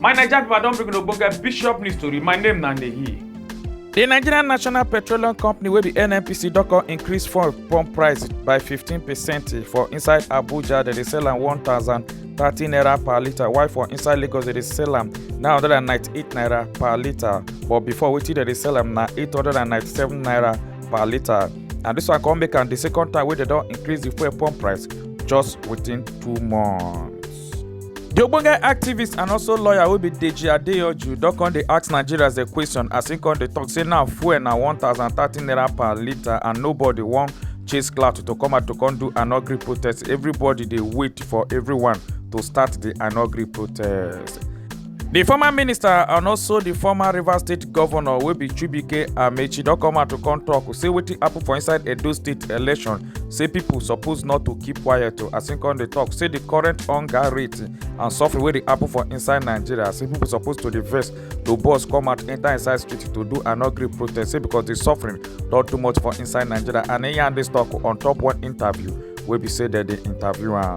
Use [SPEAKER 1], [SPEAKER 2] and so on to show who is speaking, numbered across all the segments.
[SPEAKER 1] My Naija people, I don bring una ogbonge bishop news tori. My name na Neyi. The Nigerian National Petroleum Company wey be NNPC don come increase fuel pump price by 15 percent for inside Abuja dem dey sell am 1,030 naira per litre while for inside Lagos dem dey sell am 998 naira per litre but before wetin dem dey sell am na 897 naira per litre and dis one come make am di second time wey dem don increase di fuel pump price just within two months. di ogbonge activist and also lawyer wey be deji adeyanju don come dey ask nigerians a question as im come dey tok say now fuel na one thousand thirty naira per litre and nobody wan chase clout to come out to come do an ugly protest everybody dey wait for everyone to start di an ugly protest. di former minister and also di former rivers state govnor wey be chibuike amechi don come out to come tok say wetin happun for inside edo state election say pipo suppose not to keep quiet o as im come dey tok say di current hunger rate and suffering wey dey happun for inside nigeria say pipo suppose to dey vex to bus come out enta inside street to do an ugly protest say becos di suffering don too much for inside nigeria and im yarn dis tok on top one interview wey be say dem dey interview am.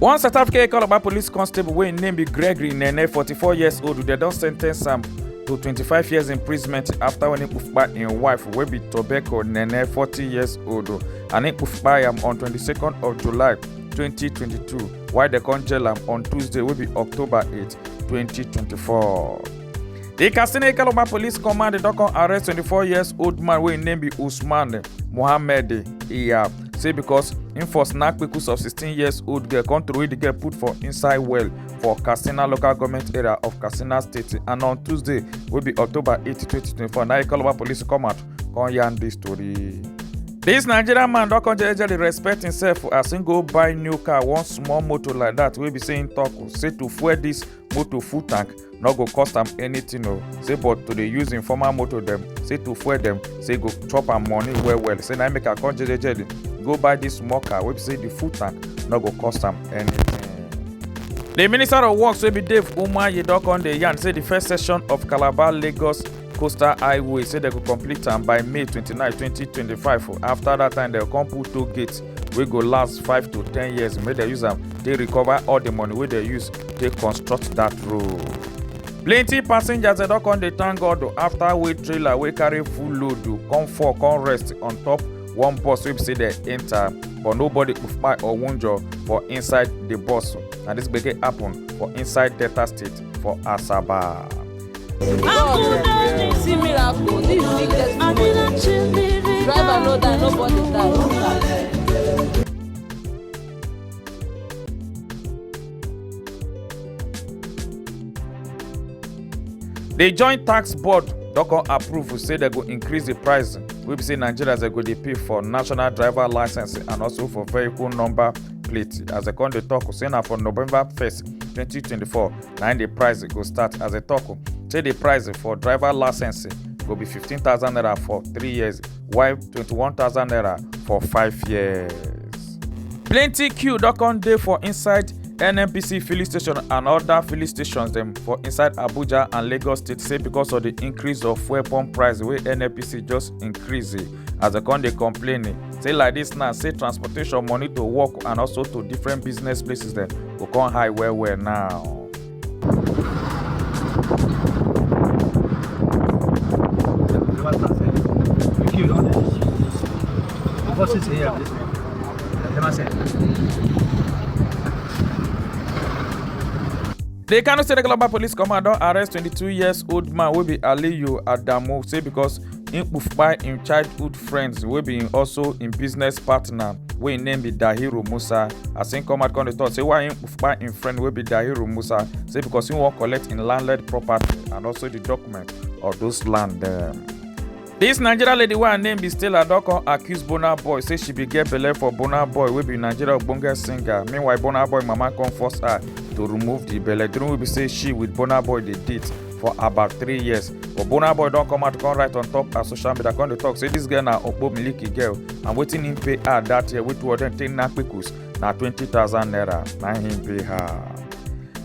[SPEAKER 1] one south africa econoba police constable wey im name be gregory nene 44 years old dem don sen ten ce am to 25 years imprisonment after when he kpupa im wife wey be tobacco nene 40 years old and he kpupa am on 22nd of july 2022 while dem come jail am on tuesday wey be october 8 2024. di katsina ekalogba police command don come arrest 24 years old man wey im name be usman mohammed iyab say because im for snap kpekus of 16 years old girl come throway di girl put for inside well for katsina local goment area of katsina state and on tuesday wey be october 8 2024 na ekalogba police come out come yarn dis tori. dis nigerian man don come jejely respect himself as im go buy new car one small motor like dat wey be say im tok say to fuel dis motor full tank no go cost am anything o say but to dey use im former motor dem say to fuel dem say e go chop am money well well say na im make am come jejejely go buy dis small car wey be say the full tank no go cost am anything. The Minister of Works wey be Dave Umahi don come dey yarn say the first section of Calabar Lagos coastal highway say dem go complete am by May 29, 2025 after that time dem go come put toll gate wey go last five to ten years make dem use am take recover all the money wey dem use take construct that road. plenty passengers dem don come dey thank god o after wey trailer wey carry full load o come fall come rest on top one bus wey be say dem enter but nobody kpai or wunjure for inside the bus na this gbege happen for inside delta state for asaba. See miracle, this is big testimony. Driver no die, nobody die. The joint tax board don come approve say dem go increase the price wey be say nigerians dem go dey pay for national driver licence and also for vehicle number plate as dem come dey talk say na for november first twenty twenty four na im the price go start as a talk say the price for driver license go be 15000 naira for three years while 21000 naira for five years. plenty queue don come dey for inside nnpc filling station and other filling stations dem for inside abuja and lagos state say because of the increase of fuel pump price wey nnpc just increase as dem come dey complain eh, say like this now say transportation money to work and also to different business places dem go come high well well now. Vocês aí, ó. Até mais cedo. The Kano State Global Police Command don arrest 22 years old man wey be Aliyu Adamu say because im kpufkpai im childhood friends wey be im also im business partner wey im name be dahiru musa as im come out come dey talk say why im kpufkpai im friend wey be dahiru musa say because im wan collect im landlord property and also the document of those land dem. This Nigeria lady wey her name be Stella don come accuse Burna Boy say she bin get belle for Burna Boy wey be Nigeria ogbonge singer. Meanwhile, Burna Boy mama come force her to remove the belle during wey be say she with Burna Boy dey date. for about three years but burna boy don come out come write on top her social media come dey talk say this girl na okpo miliki girl and wetin im pay her that year wey two of dem take knack pikus na twenty thousand naira na im pay her.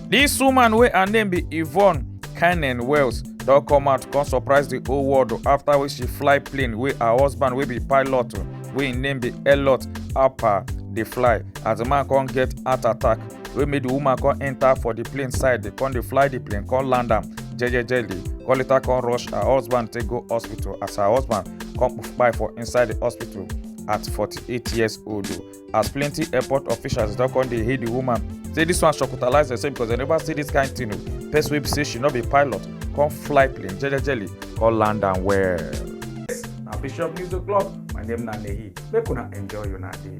[SPEAKER 1] This woman wey her name be Yvonne Cannon Wells don come out come surprise the whole world o after wey she fly plane wey her husband wey be pilot o, wey im name be Elliot Alper dey fly as the man come get heart attack wey make di woman come enter for di plane side dey come dey fly di plane come land am jejejely come later come rush her husband take go hospital as her husband come kpai for inside di hospital at 48 years old as plenty airport officials don come dey hail di woman say dis one shocktalize herself because dem never see dis kain tin o person wey be say she no be pilot come fly plane jejejely come land am well. na bishop news o'clock my name na nehi make una enjoy una day.